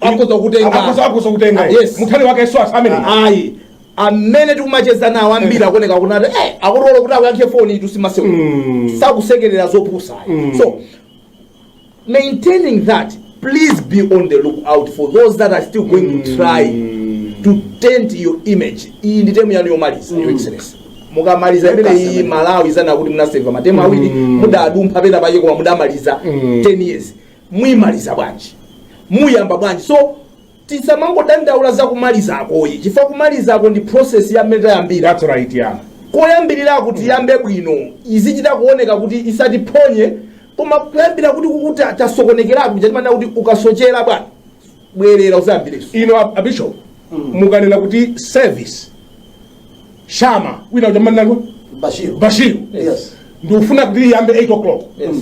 Akhoza kutenga. Akhoza- akhoza kutenga Yes. mu track yake yes so anthu amene ayi amene tikumacheza nawo ambiri akuoneka kuti eh, akulola kuti akuyankhe foni nthu amaseu Mm. sakusekerera zopusa Mm. so maintaining that please be on the look out for those that are still going to try to taint your image iyi ndi temu yanu yomaliza your excellency mukamaliza imene iyi Malawi izanena kuti munaseva matemu awiri mudadumpha pena pake koma mudamaliza 10 years muimaliza bwanji? muyamba bwanji? So tisamangodandaula za kumalizakoyi chifukwa kumalizako ndi process ya mmene tayambira That's right, yeah. koyambirirako tiyambe bwino izichita kuoneka kuti isatiphonye koma kuyambira kuti kukuti tasokonekerapo zija timanena kuti ukasochera bwana bwerera uzayambirenso inu a- a bishop mukanena kuti service, Shama wina ujamanako Bashiru. bashiru Yes. ndikufuna kuti iyambe 8 o'clock Yes.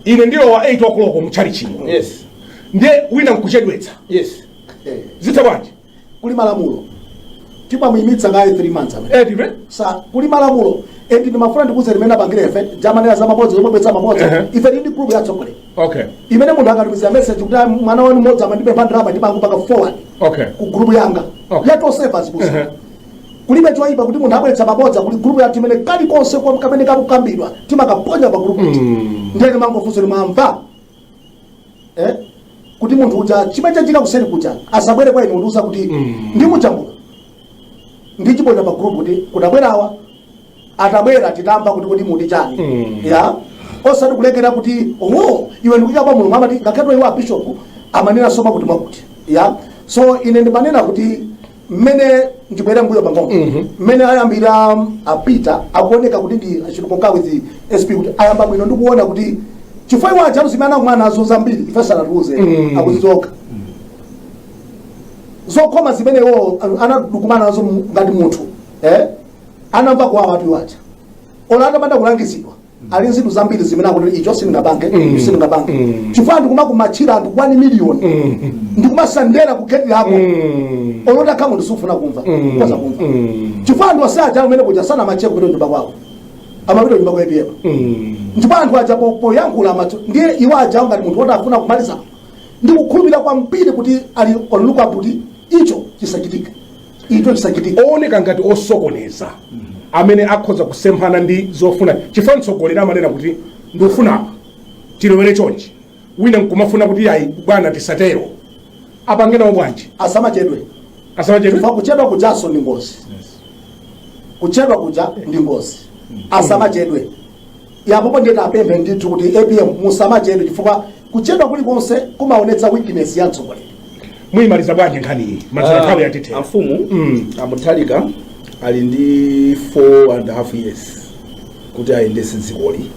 ine ndilowa 8 o'clock mutchalichimo yes ndiye wina nkuchedwetsa yes eh. zitha bwanji kuli malamulo timamuyimitsa kaye 3 months amene edive eh, so kuli malamulo endi ndimafuna ndikuuzeni mmene tapangira ife tathana ndi za mabodza zomabweretsa mabodza uh -huh. ife tili ndi group ya tsogole okay imene munthu akatumiza message kuti ah, mwana wanu mmodzi amandipempha ndalama ndimangopanga forward okay ku group yanga okay. ya ma overseers abusa uh -huh. kulibe chokuti munthu abweretsa mabodza kuli group yathu imene kalikonse kwa- kamene kakukambidwa timakaponya pa group kuti Mm. ndiye timangofunsa kuti mwamva eh kuti munthu uja chimene chachitika kuseri kuja asabwere kwa ine kundiuza kuti Mm. ndimuja muno ndichiponya pa group kuti kunabwerawa atabwera titamva kuti kodi muti chani ya osati kulekera kuti oh iwe ndikuika kwa mulungu amati ngakhale iwo abishop amanena soma kuti mwakuti ya so ine ndimanena kuti mmene ndibwera mbuyo pang'ono mmene ayambira apita akuoneka kuti ndi achitukuka with sp kuti ayamba bwino ndikuona kuti chifukwa iwo ma challenges amene anakumana nazo zambiri ife sanatiuze akuzidziwa okha zokhoma zimene iwo anakumana nazo mu- ngati munthu eh? anamva kwa anthu awo aja ola atapanda kulangizidwa ali nzinthu zambiri zimene akuti icho sindingapange icho sindingapange Mm. chifukwa ndikumakumachira anthu wani miliyoni Mm. ndikumasandera ku geti lako Mm. olota kama ndisufuna kumva Mm. ukhoza kumva Mm. chifukwa anthu osaja amene kuja samachedwako kupita nyumba kwako amapita nyumba kwa apm Mm. ndipo anthu aja po- poyankhula machewa ndiye iwo aja ngati munthu woti afuna kumaliza ndikukhulupirira kwambiri kuti ali on lookout kuti icho chisachitike chisachitike ooneka ngati osokoneza amene akhoza kusemphana ndi zofuna chifukwa mtsogoleri amanena kuti ndikufuna apa tilowere chonchi wina nkumafuna kuti ayi bwana tisatero apange nawo bwanji asamachedwe asamachedwe chifukwa kuchedwa kujaso ndi ngozi kuchedwa kuja ndi ngozi asamachedwe Ya popo ndiye tapemphe ndithu kuti apm musamachedwe chifukwa kuchedwa kulikonse kumaonetsa weakness ya mtsogoleri. Muyimaliza bwanji nkhani iyi? Mazira nthawi yatithera. amfumu Mm. amutharika ali ndi 4 and a half years kuti ayendetse dzikoli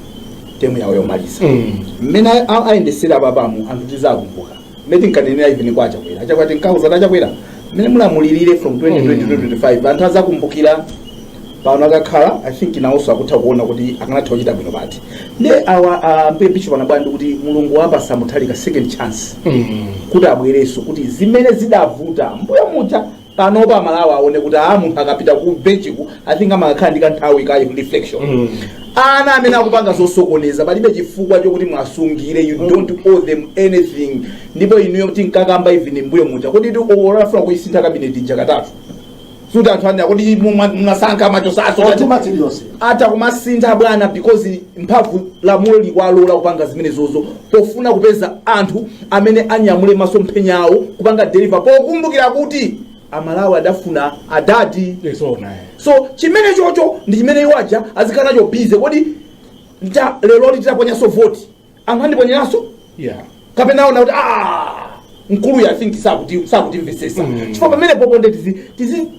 temu yawo yomaliza Mm. mmene a- ayendetsere apapamu anthu tizakumbuka mmene tinkanenera even kwa achakwera achakwera tinkawauza kuti achakwera mmene mulamulirire from 2020 to 2025 anthu azakumbukira pano akakhala i think nawonso akutha kuona kuti akanatha kuchita bwino pati nde awa ah, ambuye bishop anabwera ndi kuti mulungu wapatsa mutharika second chance kuti abwerenso kuti zimene zidavuta mbuyo muja panopo amalawi aone kuti aa munthu akapita ku bench ku i think amakakhala ndi kanthawi ka reflection ana amene akupanga zosokoneza palibe chifukwa chokuti mwasungire you don't owe them anything ndipo inuyo tinkakamba even mbuyo muja kuti ola afuna kuisintha kabineti ija katatu suti anthu anena kodi mwa- mwasankha matchona so Nduna iliyonse. ata kumasintha bwana because mphamvu lamulo likwalola kupanga zimenezozo pofuna kupeza anthu amene anyamule masomphenya awo kupanga deliver pokumbukira kuti amalawi adafuna adadi so chimene chocho ndi chimene iwo aja azikhala nacho bize kodi lero li titaponyaso voti anthu andiponyeranso yeah. kapena aona kuti "Ah, mkuluyu i think sakuti- sakutimvetsetsa Mm. chifukwa pamene popo nde tizi- tizi-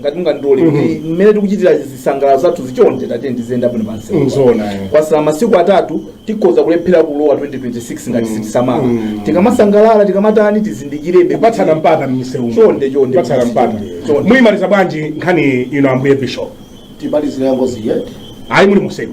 ngati mungandilole kuti mmene tikuchitira zisangalalo zathuzi chonde tiyeni tiziyenda bwino pansi Nzoona, eh. kwatsala masiku atatu tikhoza kulephera kulowa 2026 ngati sitisamala tikamasangalala tikamatani tizindikirebe kupatsana mpata mmisewu Chonde, chonde. kupatsana mpata Chonde. muyimaliza bwanji nkhani ino ambuye bishop timalizire yangozi yeah ayi muli mumsewu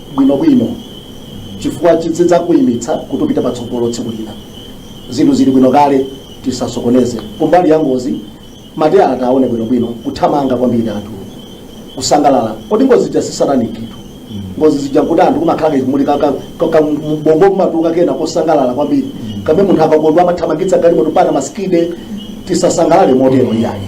bwinobwino chifukwa chidzakuyimitsa kuti upite patsogolo tsiku lina zinthu zili bwino kale tisasokoneze kumbali ya ngozi mateyala tawaone bwinobwino kuthamanga kwambiri anthu kusangalala kodi ngozi zija sizatanikitu ngozi zija kuti anthu kumakhala kathu mu ubongo kumatuluka kena kosangalala kwambiri kapena munthu akakondwa amathamangitsa galimoto ana masikidi tisasangalale motero iyayi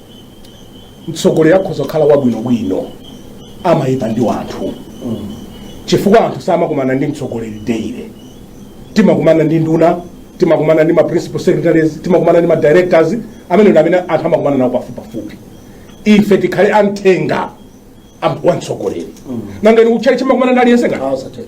mtsogoleri akhoza kukhala wabwinobwino amayipa ndi anthu chifukwa anthu samakumana ndi mtsogoleri daily timakumana ndi nduna timakumana ndi ma principal secretaries timakumana ndi ma directors amene ndi amene anthu amakumana nawo pafupipafupi ife tikhale amthenga am- wa mtsogoleri nanga inu kutchalitchi mmakumana ndi aliyense ngati Awa sathenga.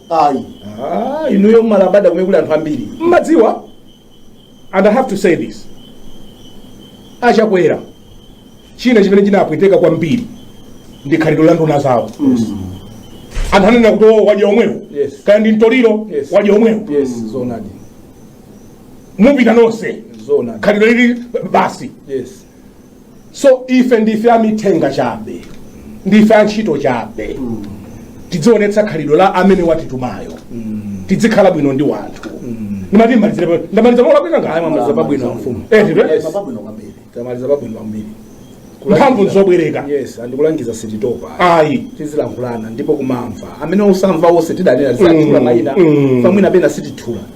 ayi Ah, inuyo mmalabada kumene kuli anthu ambiri mmadziwa and i have to say this achakwera china chimene chinapweteka kwambiri ndi khalidwe la nduna zawo anthu anenena kuti "Oh, wadya omwewo Yes. kaya ndi mtoliro Yes. wadya omwewo yes zoonadi mupita nonse zoonadi khalidwe lili basi yes so ife ndife amithenga chabe ndife antchito chabe tidzionetsa khalidwe la amene watitumayo tidzikhala bwino ndi wanthu ndimati mmalizire pa- ndamaliza mola kwina ngayo Tamaliza pabwino mfumu. eh nditwe Yes. Mapabwino kwambiri. tamaliza pabwino kwambiri mphamvu nzobwereka yes andikulangiza sititopa ayi tizilankhulana ndipo kumamva amene usamva ose tidanena zitithula Mm, mayina mm. pamwina pena sitithula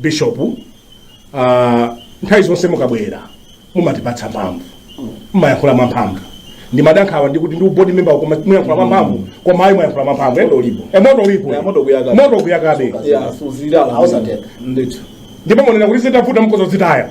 bishop uh, nthawi zonse mukabwera mumatipatsa mphamvu mumayankhula mwamphamvu ndimada nkhawa ndikuti ndinu board member koma muyankhula mwamphamvu koma ayi mwayankhula mwamphamvu eh? Moto ulipo. Eh, moto ulipo Eh, moto ukuyakabe. moto ukuyakabe Yeah, suzima Ausateka. ndithu ndipo munena kuti zitavuta mkozo zitaya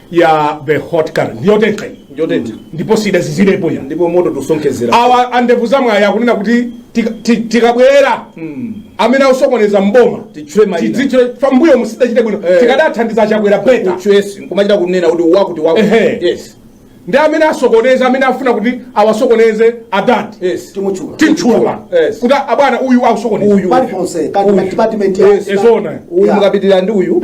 ya the hot current ndiyo tentha iyi ndiyo tentha ndipo sidazizirepo ya ndipo moto tikusonkhezera awa andevu za mwayi akunena kuti tika- ti- tikabwera amene akusokoneza mboma Titchule mayina. tidzitchule pambuyo musidachite bwino Eh. tikadathandiza chakwera better choice nkumachita kunena kuti wakuti wakuti Ehe. yes ndi amene asokoneza amene afuna kuti awasokoneze adadi yes timutchula timtchula Yes. kuti abwana uyu akusokoneza uyu paliponse kati ma department ya- Yes. ezona uyu Yeah. mukapitirira ndi uyu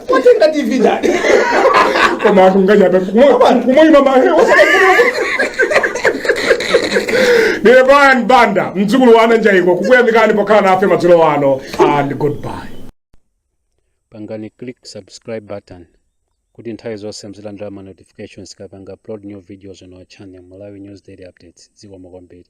watenga tv ndani koma akunganya pa kumoyima maheu ndine brian banda mdzukulu wa ananjaiko kukuyamikani pokhala nafe madzulo ano and goodbye pangani click subscribe button kuti nthawi zonse muzilandira ma notifications tikapanga upload new videos on our channel malawi news daily updates zikomo kwambiri